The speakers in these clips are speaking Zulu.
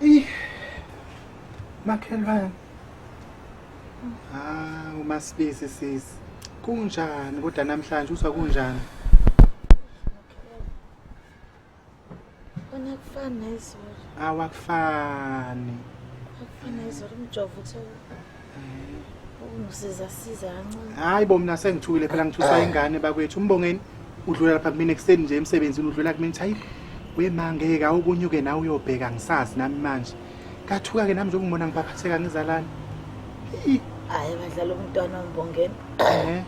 Ih, makhelwane. Ah, umasibisi sisi. Kunjani kodwa namhlanje uzwa kunjani? Wena kufani nezolo. Awakufani. Akufani nezolo umjovo uthe Ngisiza siza kancane. Hayi bo mina sengithukile phela ngithusa ingane bakwethu. Umbongeni udlula lapha kumina ekuseni nje emsebenzini udlula kumina uthi hayi we ma ngeke awukunyuke nawe uyobheka ngisazi nami manje. Kathuka ke nami nje ukungibona ngibaphatheka ngizalana. Ih, Hayi badlala umntwana umbongeni. Eh.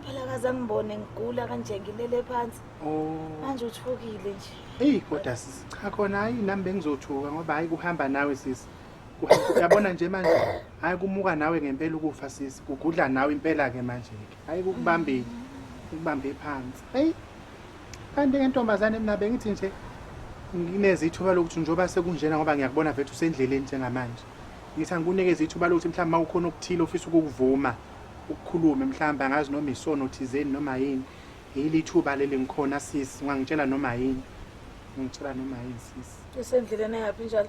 Phela kaze angibone ngigula kanje ngilele phansi. Oh. Manje uthukile nje. Eyi kodwa sisi cha khona hayi nami bengizothuka ngoba hayi kuhamba nawe sisi. uyabona nje manje hayi kumuka nawe ngempela ukufa sisi kugudla nawe impela ke manje ke hayi kukubambile ukubambe phansi hey kanti ke ntombazane mina bengithi nje nginezithuba lokuthi njengoba sekunjena ngoba ngiyakubona vethu usendleleni njengamanje ngithi angikunikeze ithuba lokuthi mhlawumbe uma kukhona okuthile ofisa ukukuvuma ukukhulume mhlawumbe angazi noma isono thizeni noma yini yili ithuba leli ngikhona sisi ungangitshela noma yini ungitshela noma yini sisi usendleleni yaphi njalo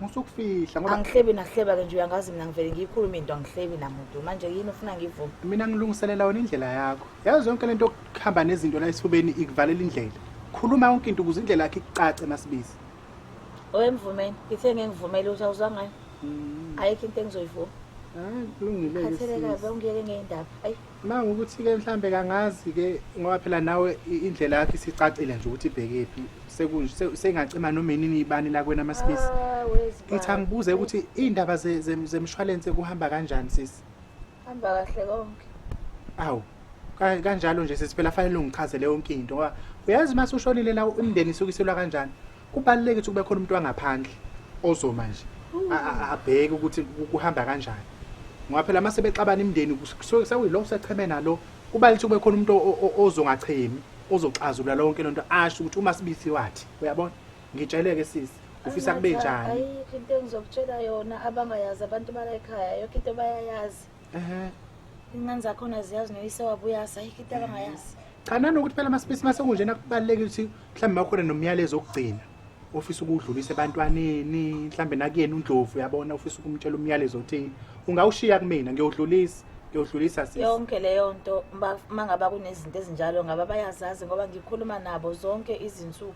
musukufihla ngoba angihlebi nahleba ke nje uyangazi mina ngivele ngiyikhuluma into angihlebi namuntu manje yini ufuna ngivume mina ngilungiselela wena indlela yakho yazi yonke lento yokuhamba nezinto la esifubeni ikuvalela indlela khuluma yonke into ukuze indlela yakhe icace masibizi owemvumeni ngithe ngengivumele ukuthi awuzwa ngayo mm. ayikho into engizoyivuma ah, kulungile khatheleka bengiyeke ngeyindaba ayi Manga ukuthi-ke mhlambe kangazi-ke ngoba phela nawe indlela yakho isicacile nje ukuthi ibhekephi sengacima noma inini ibani lakwena amasibisi ah, ngithi angibuze ukuthi iy'ndaba zemshwalense kuhamba kanjani sisi hamba kahle konke awu kanjalo nje sisi phela fanele ungichazele yonke into ngoba uyazi uma sushonile la umndeni isukiselwa kanjani Kubaluleke ukuthi kube khona umuntu wangaphandle ozoma nje abheke ukuthi kuhamba kanjani. Ngoba phela mase bexabana imndeni kusuke sekuyilo secheme nalo kubaluleke ukuthi kube khona umuntu ozongachemi ozoxazulula lonke lento asho ukuthi uma sibisi wathi uyabona ngitsheleke sisi ufisa kube njani ayikho into engizokutshela yona abangayazi abantu bala ekhaya yonke into bayayazi ehe ingane zakhona ziyazi noyise wabuya asayikho into abangayazi cha nanokuthi phela amasipisi masekunjena kubalulekile ukuthi mhlawumbe makukhona nomyalezo okugcina ofisa ukuwudlulisa ebantwaneni mhlawumbe nakuyena undlovu uyabona ofisa ukumtshela umyalezo othile ungawushiya kumina ngiyowudlulisa ngiyowudlulisa sisi yonke leyo nto ma- mangaba kunezinto ezinjalo ngaba bayazazi ngoba ngikhuluma nabo zonke izinsuku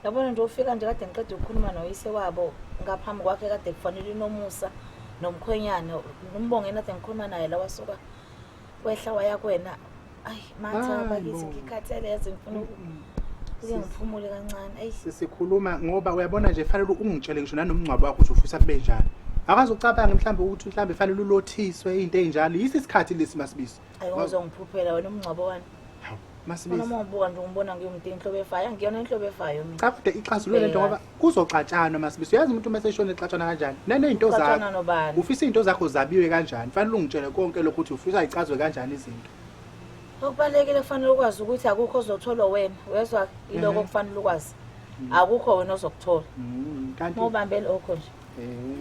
yabona nje ufika nje kade ngiqeda ukukhuluma noyise wabo ngaphambi kwakhe kade kufanele inomusa nomkhwenyana nombonge nade ngikhuluma naye la wasuka kwehla waya kwena ayi matha bakithi ngikhathele yazi ngifuna kuke ngiphumule kancane ayi sisikhuluma ngoba uyabona nje fanele ungitshele ngisho nanomngcwabo wakho ukuthi ufisa kube njani akazi ucabanga mhlawumbe ukuthi mhlawumbe fanele ulothiswe into enjalo yisi isikhathi lesi masibisi ayozongiphuphela wena umngcwabo wani masibisinomobuka nje ngibona ngiyumntu inhlobo efayo angiyona inhlobo efayo mina cha kude ixazulule lento ngoba kuzoxatshanwa masibisi uyazi umuntu uma seshona exatshana kanjani nanezinto zakho ufisa izinto zakho zabiwe kanjani fanele ungitshele konke lokho ukuthi ufisa icazwe kanjani izinto okubalekile kufanele ukwazi ukuthi akukho ozotholwa wena wezwa iloko mhm. kufanele ukwazi mm. akukho wena ozokuthola mm, kanti mobambele okho nje Eh,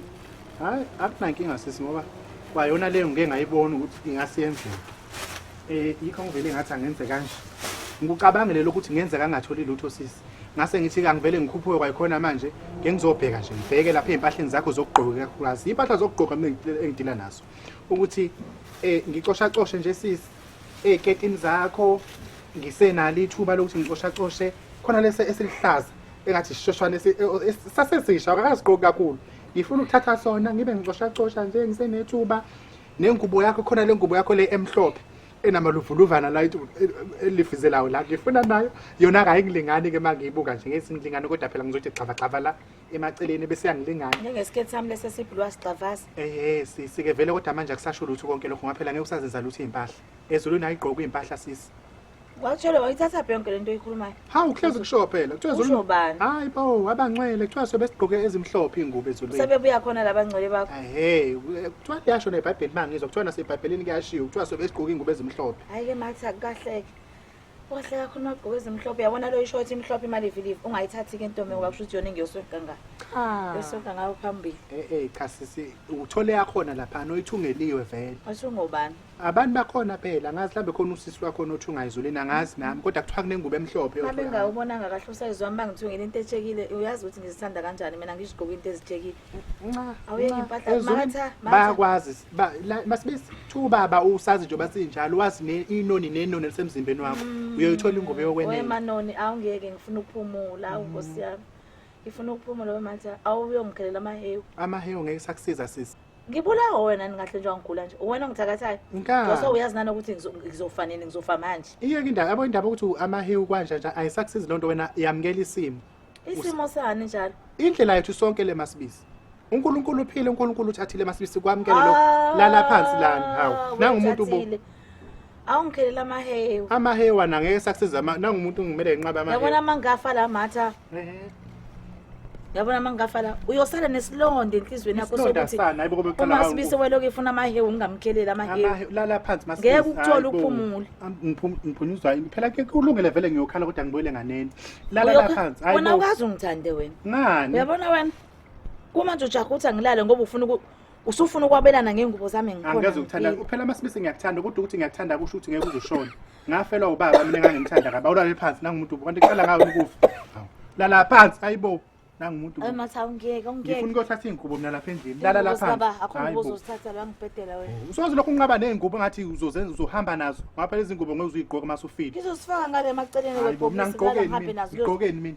hayi akunankinga sisi ngoba kwayona leyo ngike ngayibona ukuthi ingasiyenzeka um eh, yikho ngivele ngathi angenze kanje ngikucabangele lokuthi ngenzeka angatholi lutho sisi ngase ngithi kangivele ngikhuphuke kwayikhona manje ngengizobheka nje ngibheke lapha ezimpahleni zakho zokugqoka kakhulukazi impahla zokugqoka mina engidila nazo ukuthi eh ngicosha coshe nje sisi eziketini eh, zakho ngisenalo ithuba lokuthi ngicosha coshe khona lese esiluhlaza engathi sishoshwane si- e- o- es- sasesisha akakaziqoki kakhulu ngifuna ukuthatha sona ngibe ngicoshacosha nje ngisenethuba nengubo yakho khona le ngubo yakho le emhlophe enamaluvuluvana la itu- e- e- elifizelayo la ngifuna nayo yona kayingilingani ke uma ngiyibuka nje ngezingilingane kodwa phela ngizothi xavagxava la emaceleni bese yangilingani njengesiketi sami lesi esibhulwa sigxavaza ehe sisi-ke vele kodwa manje akusasho lutho konke lokho ngaphela ngeke usazenza lutho iy'mpahla ezulwini ayigqoki iy'mpahla sisi Watshele wayithatha yonke lento oyikhulumayo. Hawu uhlezi kusho phela. Kuthiwa ezulwini. Usho bani? Hayi bawo abangcwele kuthiwa sobe sigqoke ezimhlophe ingubo ezulwini. Sebebuya khona labangcwele bakho. Ehhe, kuthiwa liyasho neBhayibheli mangizwa kuthiwa naseBhayibhelini kuyashiwo kuthiwa sobe sigqoke ingubo ezimhlophe. Hayi ke mathi akukahleke. Wahle kakhulu magqoke ezimhlophe yabona lo ishort imhlophe imali ivilive ungayithathi ke ntombi ngoba kusho ukuthi yona engiyoswe kangaka. Cha. Yosonka ngayo phambili. Eh eh cha sisi uthole yakhona lapha oyithungeliwe vele. Wathi ungobani? abantu bakhona phela angazi hlambe khona usisi wakho onothi ungayizulini angazi nami kodwa kuthiwa kunengubo emhlophe yodwa. Mhlawumbe engawubonanga kahle usayizi wami bangithiwe ngine into etshekile uyazi ukuthi ngizithanda kanjani mina ngizigqoka into ezitshekile Nxa, Awuyeki nxa, impahla, ezulwini matha, matha. bayakwazi ba- la- masibisi kuthiwa ubaba usazi njengoba sinjalo wazi ne- inoni nenoni elisemzimbeni wakho uyoyithola ingubo yokwenela wemanoni awungeke ngifuna ukuphumula awu nkosi yami ngifuna ukuphumula wematha awuyongikhelela amahewu amahewu ngeke sakusiza sisi ngibulawa wena ningahle nje wangigula nje uwena ongithakathayo ngose uyazi nani ukuthi ngizofa nini ngizofa manje iyeke indaba yabo indaba ukuthi amahewu kwanje nje ayisakusizi loo nto wena yamukela isimo isimo sani njalo indlela yethu sonke le masibisi unkulunkulu uphile unkulunkulu uthathile masibisi kwamukele lokho ah, lala phansi lani hawu nangumuntu bo awungikhelela amahewu amahewu ana ngeke sakusiza ama- nangumuntu ngimele nginqabe amahewu yabona mangafa la matha Ehe. yabona mangafa la uyosala nesilonda enhliziyweni yakho Isilonda sokuthi sana, hayibo kube kuqala uma kawu- sibise weloku efuna amahewu ngingamkhelela amahewu Amahewu, lala phansi mas- Ngeke ukuthole Hayi bo. uphumule. Am- ngiphum- ngiphunyuzwa yini? phela ke kulungile vele ngiyokhala kodwa ngibuyele nganeni lala la Uyokha- phansi Hayi wena bo. ukazi ungithande wena ngani uyabona wena kumanje ujaha ukuthi angilale ngoba ufuna uku- usufuna ukwabelana ngengubo zami ngikhona angikaze ukuthanda kuphela uma sibise ngiyakuthanda kodwa ukuthi ngiyakuthanda kusho ukuthi ngeke uzoshona ngafelwa ubaba mina ngangimthanda kabi awulale phansi nangumuntu kanti kuqala ngawe ukufa lala phansi ayibo nangumuntu ayi matha ungeke ungeke ngifuna ukuyothatha izingubo mina lapha endlini lala lapha baba akho ngibo uzothatha la ngibhedela wena oh, usoze lokho unqaba nezingubo ngathi uzozenza uzohamba nazo ngapha lezi zingubo ngeke uzuyigqoke masufile ngizosifaka ngale maceleni webhokisi ngigqokeni mina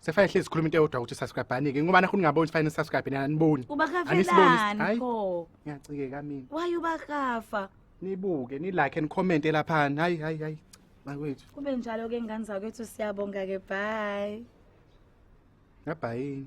Sefane hlezi sikhuluma into eyodwa ukuthi subscribe anike ngoba nakho ningaboni sifane subscribe nina aniboni. Ubakafelani Anisiboni. Hayi. pho? Ngiyacikeka mina. Why ubakafa? Nibuke ni like and comment lapha. Hayi hayi hayi. Bakwethu. Kube njalo ke ngane zakwethu siyabonga ke bye. Ngabhayini.